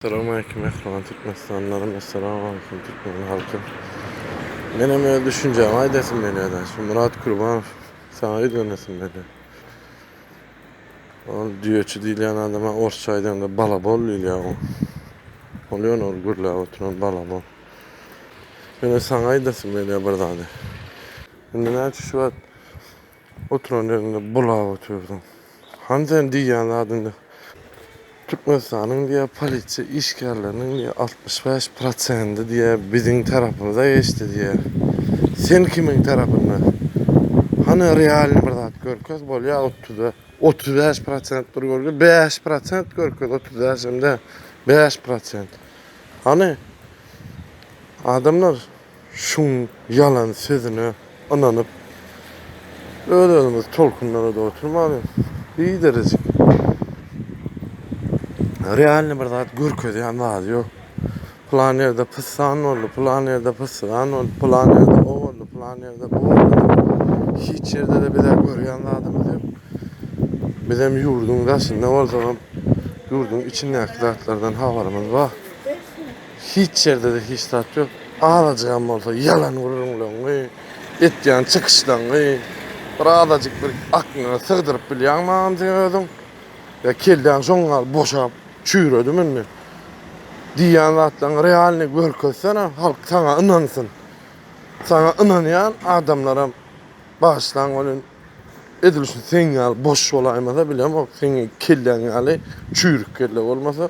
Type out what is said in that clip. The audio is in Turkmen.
Salam aleýkum mähriban türkmenistanlarym Essalamu aleýkum türkmen halkym Menem öz düşünjämi aýdasym gelýär-de şu Murat Kurbanow saňa ýüzlenesim gelýär Ol düýeçi diýilýän adama orsça aýdanda balabol diýilýär oň Ol ýöne ol gürläp oturan balabol Ýöne saňa aýdasym gelýär bir zady Indi näçe şu wagt Oturan ýeriňde bulap otyrdyň. Hany sen diýýän zadyňy. Türkmenistanyň diýýär polisiýa işgärleriniň diýýär altmyş bäş prosendi diýýär biziň tarapymyza geçdi diýýär. Sen kimiň tarapynda? Hany realny bir zat görkez bolýa otuz bäş otuz bäş prosent bir görkez bäş prosent görkez otuz bäş hem däl bäş prosent. Hany adamlar. şuň ýalan sözüne ynanyp öz özümizi tolkunlarada oturmaly hiç derejik realny bir zat görkezýän zady ýok plan ýerde pyssan boldy plan ýerde pyssan boldy plan ýerde o boldy plan ýerde bu boldy hiç ýerde de bize görýän zadymyz ýok bizem ýurduň daşynda bolsagam ýurduň içindäki zatlardan habarymyz bar Hiç ýerdede hiç zat ýok. Azajygam bolsa ýalan gürrüňleňňi, etýän çykyşlaňňy bir azajyk bir akňyňa sygdyryp bilýäňmi anjy özüň? Ýa kelläň şoň ýaly boşap çüýredimi indi? Diýýän zatlaňňy realnyý görkezsene halk saňa ynansyn. Saňa ynanýan adamlaram bagyşlaň welin edil şu seň ýaly boş bolaýmasa bilemok seň kelläň ýaly çüýrük kelle bolmasa.